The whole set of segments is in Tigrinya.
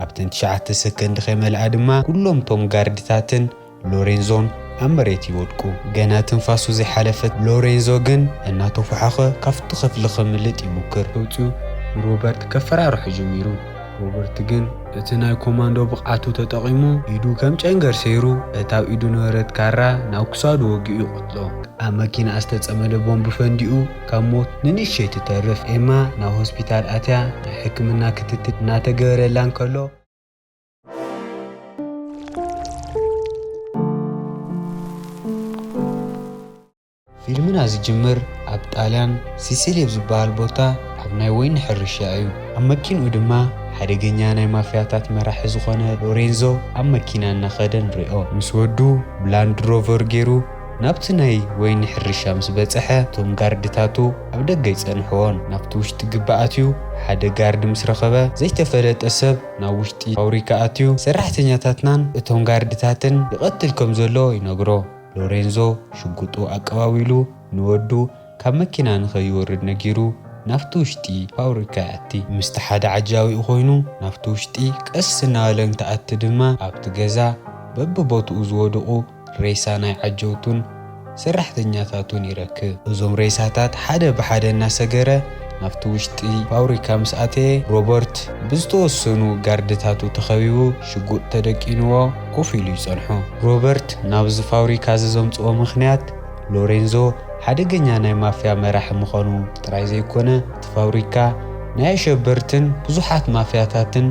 ኣብተን ትሽዓተ ሰከንድ ከይመልኣ ድማ ኩሎም እቶም ጋርድታትን ሎሬንዞን ኣብ መሬት ይወድቁ። ገና ትንፋሱ ዘይሓለፈ ሎሬንዞ ግን እናተፎሓኸ ካብቲ ክፍሊ ከምልጥ ይሙክር። ወጺኡ ንሮበርት ከፈራርሖ ጀሚሩ። ሮበርት ግን እቲ ናይ ኮማንዶ ብቕዓቱ ተጠቒሙ ኢዱ ከም ጨንገር ሰይሩ እቲ ኣብ ኢዱ ነበረት ካራ ናብ ክሳዱ ወጊኡ ይቐትሎ። ኣብ መኪናኣ ዝተጸመደ ቦምብ ፈንዲኡ ካብ ሞት ንንእሽተይ ትተርፍ ኤማ ናብ ሆስፒታል ኣትያ ናይ ሕክምና ክትትል እናተገበረላ እንከሎ፣ ፊልምና ዝጅምር ኣብ ጣልያን ሲሲሊ ኣብ ዝበሃል ቦታ ኣብ ናይ ወይኒ ሕርሻ እዩ። ኣብ መኪንኡ ድማ ሓደገኛ ናይ ማፍያታት መራሒ ዝኾነ ሎሬንዞ ኣብ መኪና እናኸደ ንሪኦ። ምስ ወዱ ብላንድ ሮቨር ገይሩ ናብቲ ናይ ወይኒ ሕርሻ ምስ በጸሐ እቶም ጋርድታቱ ኣብ ደገ ይጸንሕዎን ናብቲ ውሽጢ ግቢ ኣትዩ ሓደ ጋርድ ምስ ረኸበ ዘይተፈለጠ ሰብ ናብ ውሽጢ ፋውሪካ ኣትዩ ሰራሕተኛታትናን እቶም ጋርድታትን ይቐትል ከም ዘሎ ይነግሮ ሎሬንዞ ሽጉጡ ኣቀባቢሉ ንወዱ ካብ መኪና ንኸይወርድ ነጊሩ ናብቲ ውሽጢ ፋውሪካ ይኣቲ። ምስቲ ሓደ ዓጃቢኡ ኮይኑ ናብቲ ውሽጢ ቀስ እናበለ እንትኣቲ ድማ ኣብቲ ገዛ በብቦትኡ ዝወድቑ ሬሳ ናይ ዓጀውቱን ሰራሕተኛታቱን ይረክብ። እዞም ሬሳታት ሓደ ብሓደ እናሰገረ ናብቲ ውሽጢ ፋብሪካ ምስ ኣተየ፣ ሮበርት ብዝተወሰኑ ጋርድታቱ ተኸቢቡ ሽጉጥ ተደቂኑዎ ኮፍ ኢሉ ይጸንሖ። ሮበርት ናብዚ ፋብሪካ እዚ ዘምጽኦ ምኽንያት፣ ሎሬንዞ ሓደገኛ ናይ ማፍያ መራሒ ምዃኑ ጥራይ ዘይኮነ፣ እቲ ፋብሪካ ናይ ኣሸበርትን ብዙሓት ማፍያታትን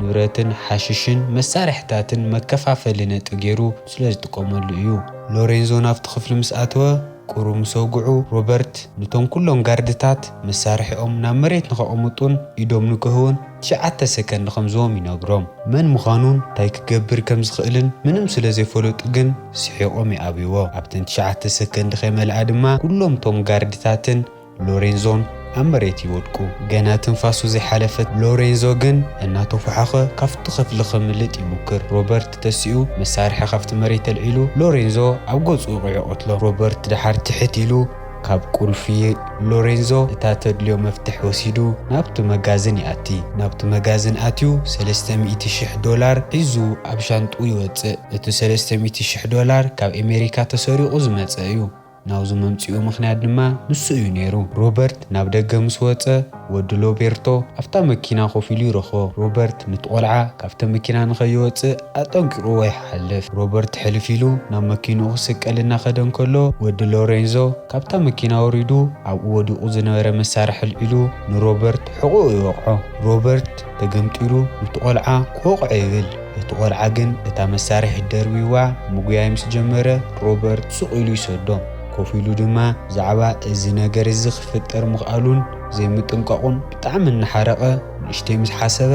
ንብረትን ሓሽሽን መሳርሒታትን መከፋፈሊ ነጥቢ ገይሩ ስለ ዝጥቀመሉ እዩ። ሎሬንዞ ናብቲ ክፍሊ ምስ ኣተወ፣ ቍሩብ ምስ ኣውግዑ፣ ሮበርት ነቶም ኵሎም ጋርድታት መሳርሒኦም ናብ መሬት ንኸቐምጡን ኢዶም ንክህቡን ትሽዓተ ሰከንድ ከም ዝህቦም ይነግሮም። መን ምዃኑን እንታይ ክገብር ከም ዝኽእልን ምንም ስለ ዘይፈለጡ ግን ስሒቖም ይኣብይዎ። ኣብተን ትሽዓተ ሰከንድ ከይመልኣ ድማ ኵሎም እቶም ጋርድታትን ሎሬንዞን ኣብ መሬት ይወድቁ። ገና ትንፋሱ ዘይሓለፈት ሎሬንዞ ግን እናተዃሓኸ ካብቲ ክፍሊ ከምልጥ ይሙክር። ሮበርት ተሲኡ መሳርሒ ካብቲ መሬት ኣልዒሉ ሎሬንዞ ኣብ ገጹ ወቒዑ ይቐትሎ። ሮበርት ደሓር ትሕት ኢሉ ካብ ቁልፊ ሎሬንዞ እታ ተድልዮ መፍትሕ ወሲዱ ናብቲ መጋዝን ይኣቲ። ናብቲ መጋዝን ኣትዩ ሰለስተ ሚእቲ ሽሕ ዶላር ሒዙ ኣብ ሻንጥኡ ይወጽእ። እቲ ሰለስተ ሚእቲ ሽሕ ዶላር ካብ ኤመሪካ ተሰሪቑ ዝመጸ እዩ። ናብዚ ምምጽኡ ምኽንያት ድማ ንሱ እዩ ነይሩ። ሮበርት ናብ ደገ ምስ ወጸ፣ ወዱ ሎቤርቶ ኣብታ መኪና ኮፍ ኢሉ ይረኽቦ። ሮበርት ኑቲ ቆልዓ ካብቲ መኪና ንኸይወጽእ ኣጠንቂቕዎ ይሓልፍ። ሮበርት ሕልፍ ኢሉ ናብ መኪንኡ ክስቀል እናኸደ እንከሎ፣ ወዲ ሎሬንዞ ካብታ መኪና ወሪዱ ኣብኡ ወዲቑ ዝነበረ መሳርሒ ኣልዒሉ ንሮበርት ሕቖኡ ይወቕዖ። ሮበርት ተገምጢሉ ኑቲ ቆልዓ ክወቕዖ ይብል። እቲ ቆልዓ ግን እታ መሳርሒት ደርብዩዋ ምጉያይ ምስ ጀመረ፣ ሮበርት ሱቕ ኢሉ ይሰዶ። ኮፍ ኢሉ ድማ ብዛዕባ እዚ ነገር እዚ ክፍጠር ምኽኣሉን ዘይምጥንቃቑን ብጣዕሚ እናሓረቐ ንእሽተይ ምስ ሓሰበ፣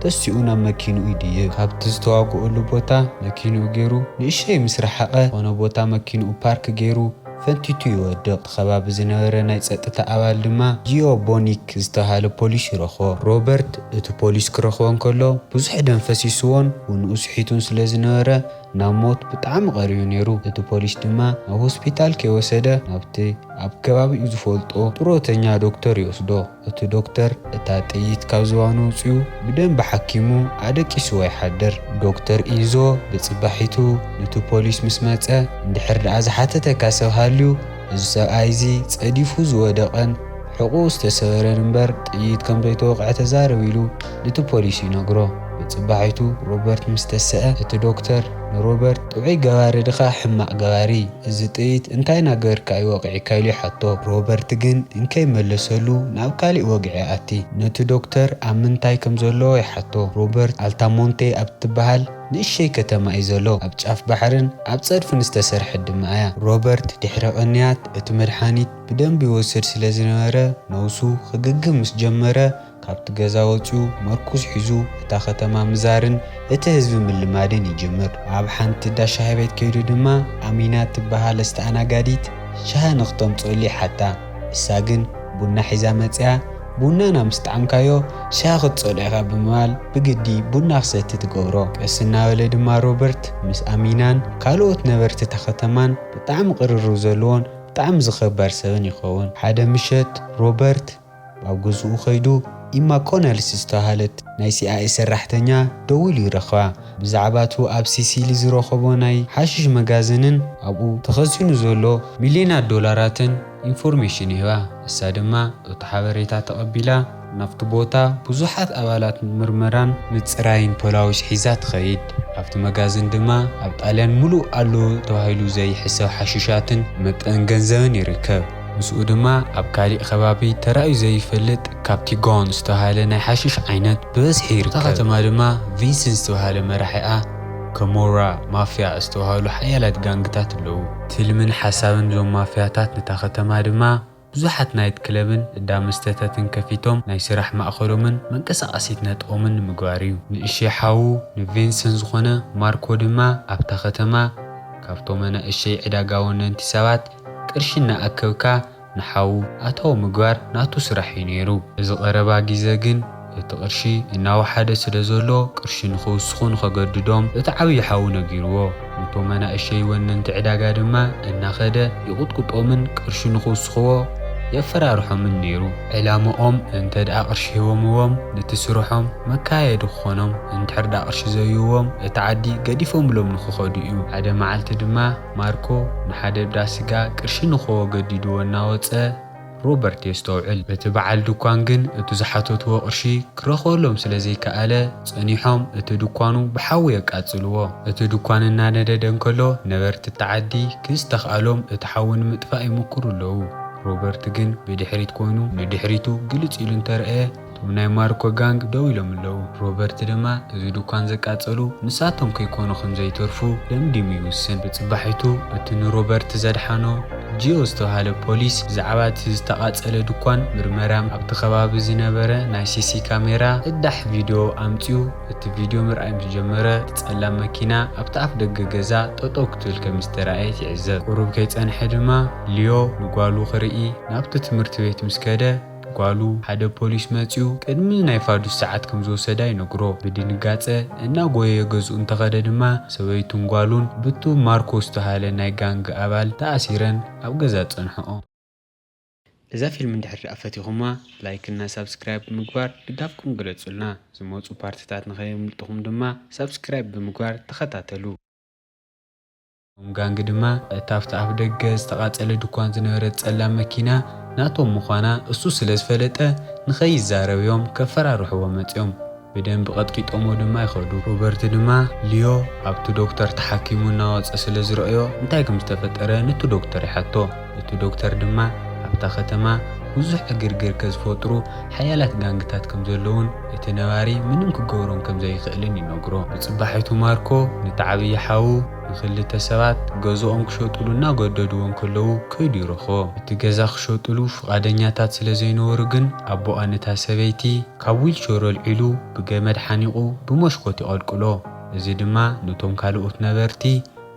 ተሲኡ ናብ መኪንኡ ይድይብ። ካብቲ ዝተዋግኡሉ ቦታ መኪንኡ ገይሩ ንእሽተይ ምስ ረሓቐ ዝኾነ ቦታ መኪንኡ ፓርክ ገይሩ፣ ፈንቲቱ ይወድቕ። እቲ ከባቢ ዝነበረ ናይ ጸጥታ ኣባል ድማ ጂዮ ቦኒክ ዝተባህለ ፖሊስ ይረኽቦ። ሮበርት እቲ ፖሊስ ክረኽቦ እንከሎ ብዙሕ ደም ፈሲስዎን ውንኡ ስሒቱን ስለ ዝነበረ ናብ ሞት ብጣዕሚ ቀሪቡ ነይሩ። እቲ ፖሊስ ድማ ናብ ሆስፒታል ከይወሰደ ናብቲ ኣብ ከባቢኡ ዝፈልጦ ጥሮተኛ ዶክተር ይወስዶ። እቲ ዶክተር እታ ጥይት ካብ ዝባኑ ኣውጺኡ ብደንቢ ሓኪሙ ኣደቂስዎ ይሓድር። ዶክተር ኢንዞ ብጽባሒቱ ኑቲ ፖሊስ ምስ መጸ፣ እንድሕር ደኣ ዝሓተተካ ሰብ ሃልዩ፣ እዚ ሰብኣይ እዚ ጸዲፉ ዝወደቐን ሕቝኡ ዝተሰበረን እምበር ጥይት ከም ዘይተወቕዐ ተዛረብ ኢሉ ኑቲ ፖሊስ ይነግሮ። ብጽባሒቱ ሮበርት ምስ ተሰኣ እቲ ዶክተር። ንሮበርት ጥዑይ ገባሪ ድኻ ሕማቕ ገባሪ እዚ ጥይት እንታይ ናገበርካ እዩ ወቒዕካ ኢሉ ይሓቶ ሮበርት ግን እንከይ መለሰሉ ናብ ካሊእ ወግዒ ኣቲ ነቲ ዶክተር ኣብ ምንታይ ከም ዘሎ ይሓቶ ሮበርት ኣልታሞንቴ ኣብ ትበሃል ንእሸይ ከተማ እዩ ዘሎ ኣብ ጫፍ ባሕርን ኣብ ጸድፍን ዝተሰርሐት ድማ እያ ሮበርት ድሕሪ ቅንያት እቲ መድሓኒት ብደንቢ ይወስድ ስለ ዝነበረ ነውሱ ክግግም ምስ ጀመረ ካብቲ ገዛ ወጺኡ መርኩዝ ሒዙ እታ ከተማ ምዛርን እቲ ህዝቢ ምልማድን ይጅምር። ኣብ ሓንቲ እንዳ ሻሂ ቤት ከይዱ ድማ ኣሚና እትበሃል ኣስተኣናጋዲት ሻሂ ንክተምጽኡሉ ይሓታ። ንሳ ግን ቡና ሒዛ መጺኣ ቡናና ምስ ጠዓምካዮ ሻሂ ክትጸልኦ ኢኻ ብምባል ብግዲ ቡና ክሰቲ ትገብሮ። ቀስ እናበለ ድማ ሮበርት ምስ ኣሚናን ካልኦት ነበርቲ እታ ከተማን ብጣዕሚ ቅርርብ ዘለዎን ብጣዕሚ ዝኸበር ሰብን ይኸውን። ሓደ ምሸት ሮበርት ኣብ ገዝኡ ከይዱ ኢማ ኮነልስ ዝተባህለት ናይ ሲኣኤ ሰራሕተኛ ደዊሉ ይረኽባ። ብዛዕባ እቱ ኣብ ሲሲሊ ዝረኸቦ ናይ ሓሽሽ መጋዝንን ኣብኡ ተኸዚኑ ዘሎ ሚልዮናት ዶላራትን ኢንፎርሜሽን ይህባ። ንሳ ድማ እቱ ሓበሬታ ተቐቢላ ናብቲ ቦታ ብዙሓት ኣባላት ምርመራን ምፅራይን ፖላዊስ ሒዛ ትኸይድ። ኣብቲ መጋዝን ድማ ኣብ ጣልያን ሙሉእ ኣሎ ተባሂሉ ዘይሕሰብ ሓሽሻትን መጠን ገንዘብን ይርከብ። ምስኡ ድማ ኣብ ካሊእ ከባቢ ተራእዩ ዘይፈልጥ ካፕቲጎን ዝተብሃለ ናይ ሓሽሽ ዓይነት ብበዝሒ ይርከብ። እታ ከተማ ድማ ቪንስን ዝተብሃለ መራሒኣ ከሞራ ማፍያ ዝተብሃሉ ሓያላት ጋንግታት ኣለዉ። ትልምን ሓሳብን እዞም ማፍያታት ነታ ከተማ ድማ ብዙሓት ናይት ክለብን እዳ መስተታትን ከፊቶም ናይ ስራሕ ማእኸሎምን መንቀሳቐሲት ነጥቦምን ንምግባር እዩ። ንእሸይ ሓዉ ንቪንስን ዝኾነ ማርኮ ድማ ኣብታ ከተማ ካብቶም ኣናእሸይ ዕዳጋ ወነንቲ ሰባት ቅርሺ እናኣከብካ ንሓዉ ኣታዊ ምግባር ናቱ ስራሕ እዩ ነይሩ። እዚ ቀረባ ግዘ ግን እቲ ቅርሺ እናወሓደ ስለዘሎ ቅርሺ ንክውስኹ ንኸገድዶም እቲ ዓብዪ ሓዉ ነጊርዎ። ንቶም ኣናእሸይ ወነንቲ ዕዳጋ ድማ እናኸደ ይቑጥቁጦምን ቅርሺ ንክውስኹዎ የፈራርሖምን ነይሩ። ዕላምኦም እንተድኣ ቅርሺ ሂቦምዎም ንቲ ስርሖም መካየዲ ክኾኖም፣ እንድሕርድኣ ቅርሺ ዘይህቡዎም እቲ ዓዲ ገዲፎምሎም ንክኸዱ እዩ። ሓደ መዓልቲ ድማ። ማርኮ ንሓደ ብዳ ስጋ ቅርሺ ንኮዎ ገዲዱዎ እናወጸ ሮበርት የስተውዕል። እቲ በዓል ድኳን ግን እቱ ዝሓተቱዎ ቅርሺ ክረኽበሎም ስለ ዘይከኣለ ጸኒሖም እቲ ድኳኑ ብሓዊ የቃጽሉዎ። እቲ ድኳን እናነደደ እንከሎ ነበርቲ እታ ዓዲ ክዝተኽኣሎም እቲ ሓዊ ንምጥፋእ ይምኩሩ ኣለዉ። ሮበርት ግን ብድሕሪት ኮይኑ ንድሕሪቱ ግልጽ ኢሉ እንተርኣየ፣ እቶም ናይ ማርኮ ጋንግ ደው ኢሎም ኣለው። ሮበርት ድማ እዚ ድኳን ዘቃጸሉ ንሳቶም ከይኮኑ ከም ዘይተርፉ ደምዲሙ ይውስን። ብጽባሒቱ እቲ ንሮበርት ዘድሓኖ ጂዮ ዝተባህለ ፖሊስ ብዛዕባ እቲ ዝተቓጸለ ድኳን ምርመራም ኣብቲ ከባቢ ዝነበረ ናይ ሲሲ ካሜራ ቅዳሕ ቪድዮ ኣምጺኡ እቲ ቪድዮ ምርኣይ ምስ ጀመረ እቲ ጸላም መኪና ኣብቲ ኣፍደገ ገዛ ጠጠው ክትብል ከም ዝተራእየት ይዕዘብ። ቁሩብ ከይጸንሐ ድማ ሊዮ ንጓሉ ክርኢ ናብቲ ትምህርቲ ቤት ምስ ከደ ጓሉ፣ ሓደ ፖሊስ መጺኡ ቅድሚ ናይ ፋዱስ ሰዓት ከም ዝወሰዳ ይነግሮ። ብድንጋጸ እናጎየየ ገዝኡ እንተኸደ ድማ ሰበይቱን ጓሉን ብቱ ማርኮ ዝተሃለ ናይ ጋንግ ኣባል ተኣሲረን ኣብ ገዛ ጸንሕኦ። እዛ ፊልም እንድሕር ድኣ ፈቲኹማ ላይክ እና ሳብስክራይብ ብምግባር ድጋፍኩም ግለጹልና ዝመጹ ፓርትታት ንኸየምልጥኹም ድማ ሳብስክራይብ ብምግባር ተኸታተሉ። እቶም ጋንግ ድማ እታ ኣብቲ ኣፍደገ ዝተቓጸለ ድኳን ዝነበረት ጸላም መኪና ናቶም ምዃና እሱ ስለ ዝፈለጠ ንኸይዛረብ'ዮም ከፈራርሕዎ መጺኦም። ብደንቢ ቀጥቂጦምዎ ድማ ይኸዱ። ሮበርት ድማ ሊዮ ኣብቲ ዶክተር ተሓኪሙ እናወጸ ስለ ዝረኣዮ እንታይ ከም ዝተፈጠረ ኑቲ ዶክተር ይሓቶ። እቲ ዶክተር ድማ ኣብታ ከተማ ብዙሕ ዕግርግር ከዝፈጥሩ ሓያላት ጋንግታት ከምዘለዉን እቲ ነባሪ ምንም ክገብሮም ከምዘይኽእልን ይነግሮ። ንጽባሒቱ ማርኮ ነቲ ዓብዪ ሓዉ ንኽልተ ሰባት ገዝኦም ክሸጥሉ እናገደድዎ እንከለዉ ከይዱ ይረኽቦ። እቲ ገዛ ክሸጥሉ ፍቓደኛታት ስለዘይነበሩ ግን ኣቦኣ ነታ ሰበይቲ ካብ ዊልቸሩ ኣልዒሉ ብገመድ ሓኒቑ ብመሽኮት ይቐልቅሎ። እዚ ድማ ነቶም ካልኦት ነበርቲ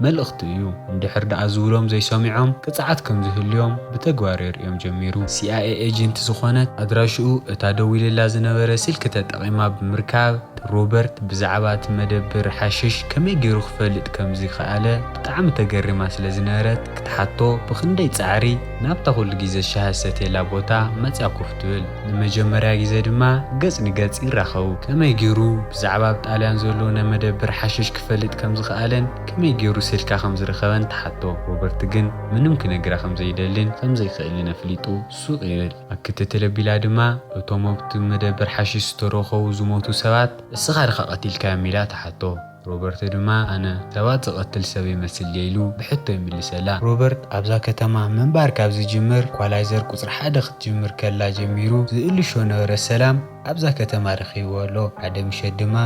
መልእኽቱ እዩ። እንድሕር ደኣ ዝብሎም ዘይሰሚዖም ቅጽዓት ከም ዝህልዮም ብተግባር የርእዮም ጀሚሩ። ሲኣይኤ ኤጀንት ዝኾነት ኣድራሽኡ እታ ደዊልላ ዝነበረ ስልኪ ተጠቒማ ብምርካብ፣ ሮበርት ብዛዕባ እቲ መደብር ሓሽሽ ከመይ ገይሩ ክፈልጥ ከም ዝኸኣለ ብጣዕሚ ተገሪማ ስለ ዝነበረት ክትሓቶ ብኽንደይ ጻዕሪ ናብታ ኩሉ ግዜ ሻሂ ዝሰትየላ ቦታ መጽያ ኮፍ ትብል። ንመጀመርያ ግዜ ድማ ገጽ ንገጽ ይራኸቡ። ከመይ ጌሩ ብዛዕባ ኣብ ጣልያን ዘሎ ናይ መደብር ሓሽሽ ክፈልጥ ከም ዝኸኣለን ከመይ ጌሩ ስልካ ከም ዝረኸበን ትሓቶ። ሮበርት ግን ምንም ክነግራ ከም ዘይደልን ከም ዘይክእልን ኣፍሊጡ ሱቕ ይብል። ኣብ ክትትል ኣቢላ ድማ እቶም ኣብቲ መደብር ሓሽሽ ዝተረኸቡ ዝሞቱ ሰባት እስኻ ድኻ ቀቲልካዮም ኢላ ትሓቶ። ሮበርቶ ድማ ኣነ ሰባት ዝቐትል ሰብ ይመስል ድየ ኢሉ ብሕቶ ይምልሰላ። ሮበርት ኣብዛ ከተማ ምንባር ካብ ዝጅምር ኢኳላይዘር ቁጽሪ ሓደ ክትጅምር ከላ ጀሚሩ ዝእልሾ ነበረ ሰላም ኣብዛ ከተማ ረኺብዎ ኣሎ። ሓደ ምሸት ድማ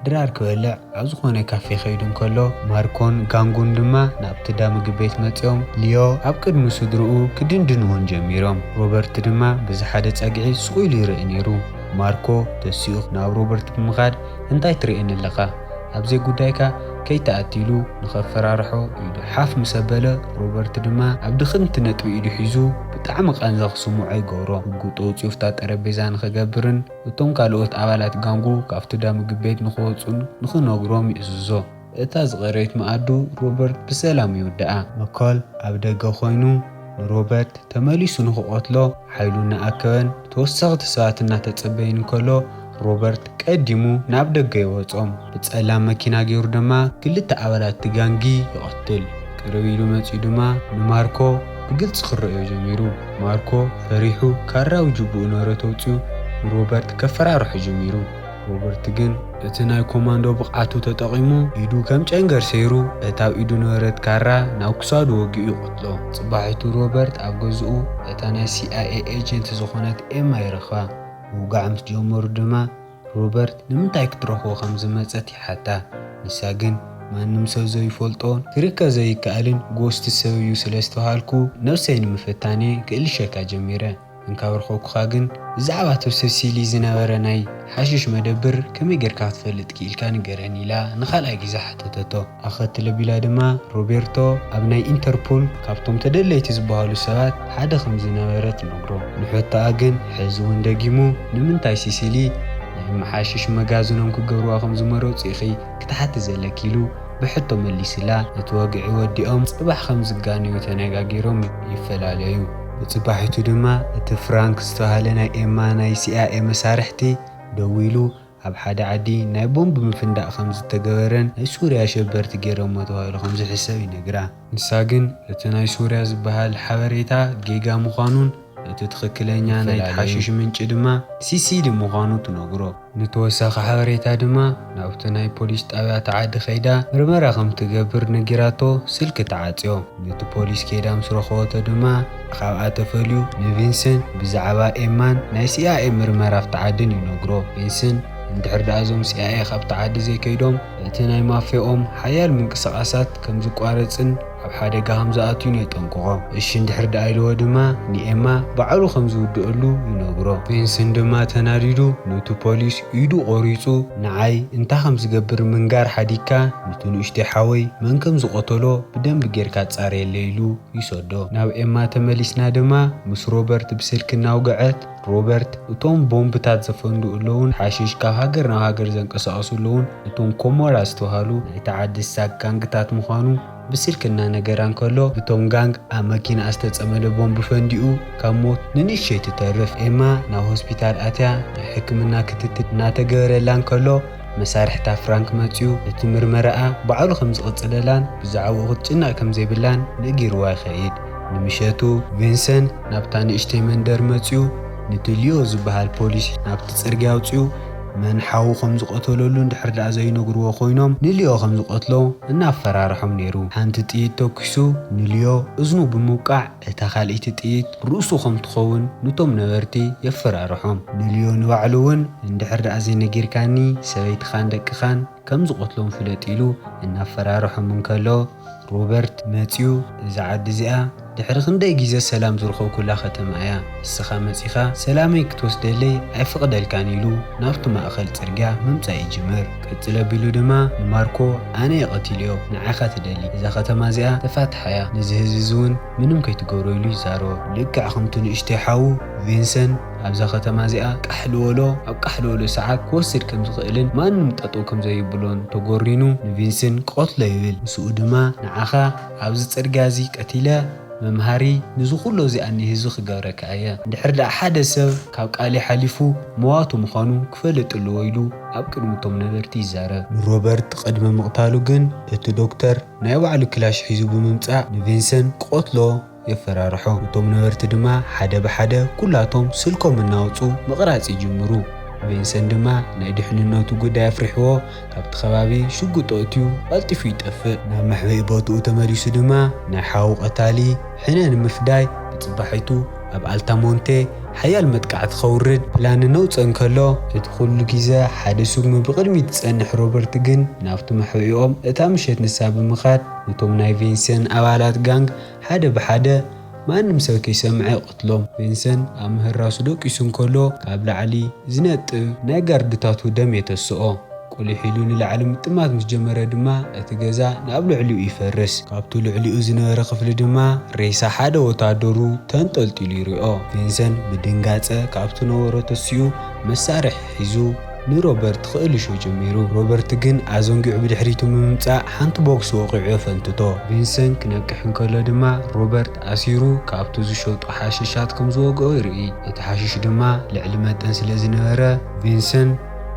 ድራር ክበልዕ ኣብ ዝኾነ ካፌ ከይዱ እንከሎ ማርኮን ጋንጉን ድማ ናብቲ እንዳ ምግብ ቤት መጺኦም ሊዮ ኣብ ቅድሚ ስድርኡ ክድንድንዎን ጀሚሮም። ሮበርት ድማ በዚ ሓደ ጸግዒ ሱቕ ኢሉ ይርኢ ነይሩ። ማርኮ ተሲኡ ናብ ሮበርት ብምኻድ እንታይ ትርእየኒ ኣለኻ ኣብዘይ ጉዳይካ ከይትኣቲ ኢሉ ንኸፈራርሖ ኢዱ ሓፍ ምስ ኣበለ ሮበርት ድማ ኣብ ድኽምቲ ነጥቢ ኢዱ ሒዙ ብጣዕሚ ቃንዛ ክስምዖ ይገብሮ ሽጉጡ ኣውጺኡ ፍታ ጠረጴዛ ንኸገብርን እቶም ካልኦት ኣባላት ጋንጉ ካብቲ ዳምግብ ቤት ንኽወጹን ንኽነግሮም ይእዝዞ። እታ ዝቐረይት መኣዱ ሮበርት ብሰላም ይውድኣ። መኮል ኣብ ደገ ኮይኑ ንሮበርት ተመሊሱ ንክቐትሎ ሓይሉ እናኣከበን ተወሰኽቲ ሰባት እናተጸበይን እንከሎ ሮበርት ቀዲሙ ናብ ደገ የወጾም። ብጸላም መኪና ጌሩ ድማ ክልተ ኣባላት እቲ ጋንጊ ይቐትል። ቅርብ ኢሉ መጺኡ ድማ ንማርኮ ብግልጺ ክረእዮ ጀሚሩ። ማርኮ ፈሪሑ ካራዊ ጁቡኡ ነረቶ ኣውጺኡ ንሮበርት ከፈራርሖ ጀሚሩ። ሮበርት ግን እቲ ናይ ኮማንዶ ብቕዓቱ ተጠቒሙ ኢዱ ከም ጨንገር ሰይሩ እታ ኣብ ኢዱ ነበረት ካራ ናብ ክሳዱ ወጊኡ ይቐትሎ። ጽባሒቱ ሮበርት ኣብ ገዝኡ እታ ናይ ሲኣይኤ ኤጀንት ዝኾነት ኤማ ይረኽባ። ምውጋዕ ምስ ጀመሩ ድማ ሮበርት ንምንታይ ክትረኽቦ ከም ዝመጸት ይሓታ። ንሳ ግን ማንም ሰብ ዘይፈልጦን ክርከብ ዘይከኣልን ጎስት ሰብ'ዩ ስለ ዝተብሃልኩ ነብሰይ ንምፍታን'የ ክእልሸካ ጀሚረ። እንካብ ረኸብኩኻ ግን ብዛዕባ እቶ ሰሲሊ ዝነበረ ናይ ሓሽሽ መደብር ከመይ ጌርካ ክትፈልጥ ክኢልካ ንገረኒ ኢላ ንኻልኣይ ግዜ ሓተተቶ። ኣኸትል ኣቢላ ድማ ሮቤርቶ ኣብ ናይ ኢንተርፑል ካብቶም ተደለይቲ ዝበሃሉ ሰባት ሓደ ከም ዝነበረ ትነግሮ። ንሕቶኣ ግን ሕዚ እውን ደጊሙ ንምንታይ ሲሲሊ ናይ መሓሽሽ መጋዝኖም ክገብርዋ ከም ዝመረጹ ኢኺ ክትሓቲ ዘለኪ ኢሉ ብሕቶ መሊስላ። ነቲ ወግዒ ወዲኦም ጽባሕ ከም ዝጋነዩ ተነጋጊሮም ይፈላለዩ። ንጽባሒቱ ድማ እቲ ፍራንክ ዝተባህለ ናይ ኤማ ናይ ሲኣይኤ መሳርሕቲ ደዊሉ ኣብ ሓደ ዓዲ ናይ ቦምብ ምፍንዳእ ከም ዝተገበረን ናይ ሱርያ ኣሸበርቲ ገይሮሞ ተባሂሉ ከም ዝሕሰብ ይነግራ። ንሳ ግን እቲ ናይ ሶርያ ዝበሃል ሓበሬታ ጌጋ ምዃኑን እቲ ትኽክለኛ ናይቲ ሓሽሽ ምንጪ ድማ ሲሲዲ ምዃኑ ትነግሮ። ንተወሳኺ ሓበሬታ ድማ ናብቲ ናይ ፖሊስ ጣብያ እታ ዓዲ ከይዳ ምርመራ ከም ትገብር ነጊራቶ ስልኪ ትዓጽዮ። ነቲ ፖሊስ ከይዳ ምስ ረኸበቶ ድማ ካብኣ ተፈልዩ ንቪንስን ብዛዕባ ኤማን ናይ ሲኣይኤ ምርመራ ኣብቲ ዓድን ይነግሮ። ቪንስን እንድሕር ደኣ እዞም ሲኣይኤ ካብቲ ዓዲ ዘይከይዶም፣ እቲ ናይ ማፍያኦም ሓያል ምንቅስቓሳት ከም ዝቋረጽን ኣብ ሓደጋ ከም ዝኣቱን የጠንቅቖ። እሺ እንድሕር ደኣ ኢልዎ ድማ ንኤማ ባዕሉ ከም ዝውድኣሉ ይነግሮ። ቪንስን ድማ ተናዲዱ ኑቲ ፖሊስ ኢዱ ቆሪጹ ንዓይ እንታይ ከም ዝገብር ምንጋር ሓዲግካ ኑቲ ንኡሽተይ ሓወይ መን ከም ዝቐተሎ ብደንቢ ጌርካ ኣጻርየለይ ኢሉ ይሰዶ። ናብ ኤማ ተመሊስና ድማ ምስ ሮበርት ብስልኪ እናውግዐት፣ ሮበርት፣ እቶም ቦምብታት ዘፈንድኡ ኣለዉን ሓሽሽ ካብ ሃገር ናብ ሃገር ዘንቀሳቕሱ ኣለዉን እቶም ኮሞራ ዝተባህሉ ናይታ ዓዲ ሳግ ጋንግታት ምዃኑ ብስልኪ እናነገራ እንከሎ፣ እቶም ጋንግ ኣብ መኪናኣ ዝተጸመደ ቦምብ ፈንዲኡ ካብ ሞት ንንእሽተይ ትተርፍ ኤማ ናብ ሆስፒታል ኣትያ ናይ ሕክምና ክትትል እናተገበረላ እንከሎ፣ መሳርሕታ ፍራንክ መጺኡ እቲ ምርመራኣ ባዕሉ ከም ዝቕጽለላን ብዛዕባኡ ክትጭነቕ ከም ዘይብላን ነጊሩዋ ይኸይድ። ንምሸቱ፣ ቪንሰን ናብታ ንእሽተይ መንደር መጺኡ ንቲ ሊዮ ዝበሃል ፖሊስ ናብቲ ጽርግያ ኣውጺኡ መን ሓዉ ከም ዝቐተለሉ እንድሕር ደኣ ዘይነግሩዎ ኮይኖም ንሊዮ ከም ዝቐትሎ እናፈራርሖም ነይሩ። ሓንቲ ጥይት ተኲሱ ንሊዮ እዝኑ ብምውቃዕ፣ እታ ካልኢቲ ጥይት ርእሱ ከም ትኸውን ኑቶም ነበርቲ የፈራርሖም። ንልዮ ንባዕሉ እውን እንድሕር ደኣ ዘይነጊርካኒ ሰበይትኻን ደቅኻን ከም ዝቐትሎም ፍለጥ ኢሉ እናፈራርሖም እንከሎ ሮበርት መጺኡ እዛ ዓዲ እዚኣ ድሕሪ ክንደይ ግዜ ሰላም ዝረኸብኩላ ከተማ እያ እስኻ መጺኻ ሰላመይ ክትወስደለይ ኣይፍቕደልካን ኢሉ ናብቲ ማእከል ጽርግያ ምምጻእ ይጅምር። ቅጽል ኣቢሉ ድማ ንማርኮ ኣነ እየ ቀቲለዮ ንዓይ እኻ ትደሊ እዛ ከተማ እዚኣ ተፋትሓ እያ ነዚ ህዝቢ እዚ ውን ምንም ከይትገብሮ ኢሉ ይዛረቦ ልክዕ ከምቱ ንእሽተይ ሓዉ ቪንሰን ኣብዛ ከተማ እዚኣ ቃሕልዎሎ ኣብ ቃሕልዎሎ ሰዓት ክወስድ ከም ዝኽእልን ማንም ጠጠው ከም ዘዩብሎን ተጎሪኑ ንቪንስን ቀትሎ ይብል ምስኡ ድማ ንዓኻ ኣብዚ ጽርግያ እዚ ቀቲለ መምሃሪ ንዚ ኩሎ እዚ ኣኒ ህዝቢ ክገብረካ እየ እንድሕር ደኣ ሓደ ሰብ ካብ ቃልይ ሓሊፉ መዋቱ ምዃኑ ክፈልጥ እለዎ ኢሉ ኣብ ቅድሚ እቶም ነበርቲ ይዛረብ። ንሮበርት ቅድሚ ምቕታሉ ግን እቲ ዶክተር ናይ ባዕሉ ክላሽ ሒዙ ብምምጻእ ንቪንሰን ክቐትሎ የፈራርሖ። እቶም ነበርቲ ድማ ሓደ ብሓደ ኩላቶም ስልኮም እናውጽኡ ምቕራጽ ይጅምሩ። ቪንሰን ድማ ናይ ድሕንነቱ ጉዳይ ኣፍሪሕዎ ካብቲ ከባቢ ሽጉጡ ኣእትዩ ቐልጢፉ ይጠፍእ። ናብ መሕብኢ ቦትኡ ተመሊሱ ድማ ናይ ሓዉ ቐታሊ ሕነ ንምፍዳይ ብጽባሒቱ ኣብ ኣልታሞንቴ ሓያል መጥቃዕቲ ከውርድ ፕላን እናውጽእ እንከሎ፣ እቲ ኩሉ ግዘ ሓደ ስጉሚ ብቕድሚት ዝጸንሕ ሮበርት ግን ናብቲ መሕውኦም እታ ምሸት ንሳ ብምኻድ ነቶም ናይ ቬንሰን ኣባላት ጋንግ ሓደ ብሓደ ማንም ሰብ ከይሰምዐ ይቐትሎም። ቬንሰን ኣብ ምህራሱ ደቂሱ እንከሎ ካብ ላዕሊ ዝነጥብ ናይ ጋርድታቱ ደም የተስኦ። ቁሊሕ ኢሉ ንላዕሊ ምጥማት ምስ ጀመረ ድማ እቲ ገዛ ናብ ልዕሊኡ ይፈርስ። ካብቲ ልዕሊኡ ዝነበረ ክፍሊ ድማ ሬሳ ሓደ ወተሃደሩ ተንጠልጢሉ ይሪኦ። ቪንሰን ብድንጋጸ ካብቲ ነበሮ ተሲኡ መሳርሒ ሒዙ ንሮበርት ክእልሾ ጀሚሩ። ሮበርት ግን ኣዘንጊዑ ብድሕሪቱ ብምምጻእ ሓንቲ ቦክስ ወቒዑ የፈንትቶ። ቪንሰን ክነቅሕ እንከሎ ድማ ሮበርት ኣሲሩ ካብቲ ዝሸጦ ሓሽሻት ከም ዝወግኦ ይርኢ። እቲ ሓሽሽ ድማ ልዕሊ መጠን ስለ ዝነበረ ቪንሰን።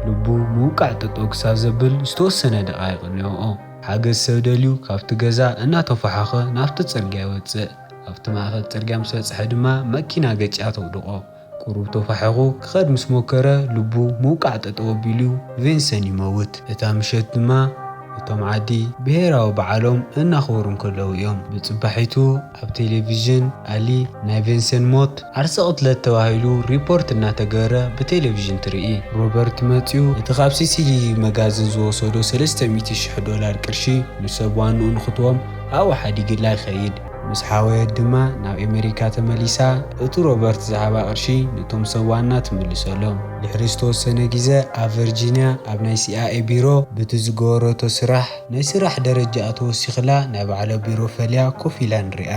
ልቡ ምውቃዕ ጠጠው ክሳብ ዘብል ዝተወሰነ ደቓይቕ እኒኦኦ። ሓገዝ ሰብ ደልዩ ካብቲ ገዛ እናተፎሓኾ ናብቲ ጽርግያ ይወጽእ። ኣብቲ ማእከል ጽርግያ ምስ በጽሐ ድማ መኪና ገጭያ ተውድቖ። ቁሩብ ተፋሒኹ ክኸድ ምስ ሞከረ ልቡ ምውቃዕ ጠጠው ኣቢሉ ቬንሰን ይመውት። እታ ምሸት ድማ እቶም ዓዲ ብሄራዊ በዓሎም እናኽበሩ እንከለዉ እዮም። ብጽባሒቱ ኣብ ቴሌቪዥን ኣሊ ናይ ቬንሰን ሞት ዓርሰ ቅትለት ተባሂሉ ሪፖርት እናተገበረ ብቴሌቪዥን ትርኢ። ሮበርት መጺኡ እቲ ካብ ሲሲሊሊ መጋዝን ዝወሰዶ ሰለስተ ሚእቲ ሽሕ ዶላር ቅርሺ ንሰብ ዋንኡ ንክትቦም ኣብኡ ሓዲግላ ይኸይድ። ምስ ሓወየት ድማ ናብ ኤመሪካ ተመሊሳ እቲ ሮበርት ዝሃባ ቅርሺ ንቶም ሰብ ዋና ትምልሰሎም። ድሕሪ ዝተወሰነ ግዘ ኣብ ቨርጂንያ ኣብ ናይ ሲኣይኤ ቢሮ ብቲ ዝገበረቶ ስራሕ፣ ናይ ስራሕ ደረጃኣ ተወሲኽላ ናይ ባዕላ ቢሮ ፈልያ ኮፍ ኢላ ንሪኣ።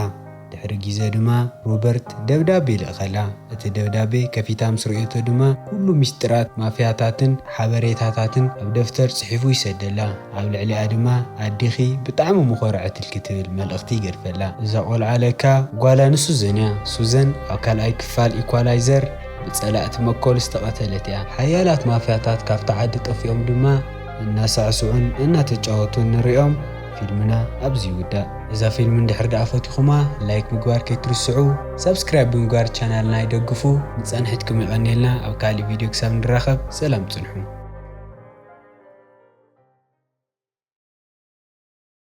ድሕሪ ጊዘ ድማ ሮበርት ደብዳቤ ልእኸላ። እቲ ደብዳቤ ከፊታ ምስ ርእዮቶ ድማ ኩሉ ሚስጢራት ማፍያታትን ሓበሬታታትን ኣብ ደፍተር ጽሒፉ ይሰደላ። ኣብ ልዕሊኣ ድማ ኣዴኺ ብጣዕሚ ምኾረዐትልኪ ትብል መልእኽቲ ይገድፈላ። እዛ ቆልዓ ለካ ጓላ ንሱዘን እያ። ሱዘን ኣብ ካልኣይ ክፋል ኢኳላይዘር ብጸላእቲ መኮል ዝተቐተለት እያ። ሓያላት ማፍያታት ካብታ ዓዲ ጠፊኦም ድማ፣ እናሳዕስዑን እናተጫወቱን ንሪኦም ፊልምና ኣብዚ ይውዳእ። እዛ ፊልም እንድሕር ደኣ ፈቲኹማ ላይክ ምግባር ከይትርስዑ ሳብስክራይብ ብምግባር ቻናልና ይደግፉ ንፃንሒትኩም የቐንየልና ኣብ ካሊእ ቪድዮ ክሳብ ንራኸብ ሰላም ፅንሑ።